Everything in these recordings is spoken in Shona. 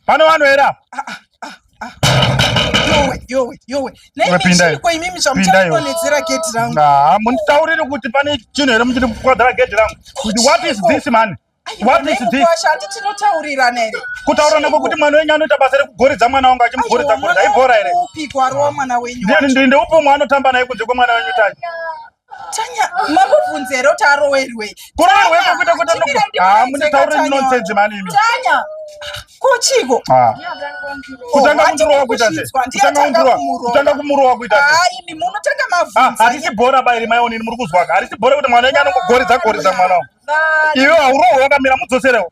pane vanhu here apa ah, ah. munditaurire kuti pane chinhu here muchiri kukwadzara gedhi rangu what is this man kutaurirana kwekuti mwana wenyu anoita basa rekugoridza mwana wangu achimugoridza goridza ibhora here ndeupi umwe anotamba naye kunze kwemwana wenyu tacho Tanya, makuvhunze here kuti arowerwei? Kurowerwepo kuita kuita noku. Ah, mune tauro nonsense mani imi. Tanya. Kochiko. Ah. Kutanga kumurowa kuita sei? Kutanga kumurowa. Kutanga kumurowa kuita sei? Ah, imi munotanga mavhunze. Ah, harisi bhora bairi mai onini muri kuzwa. Harisi bhora kuti mwana wenyu anongogoridza goridza mwana. Iwe haurowe wakamira mudzoserewo.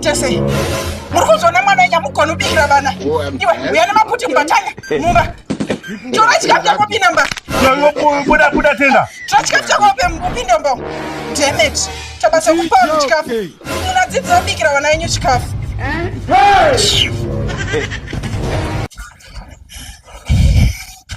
Tese, muri kuzona mwana enya mugona ubikira vana iwe uya nemaputi mubatanya mumba tora chikafu chako pinda mba buda buda tenda tora chikafu chako upinda mba demet tabasa kupa vanhu chikafu munadzidzira ubikira vana yenyu chikafu eh?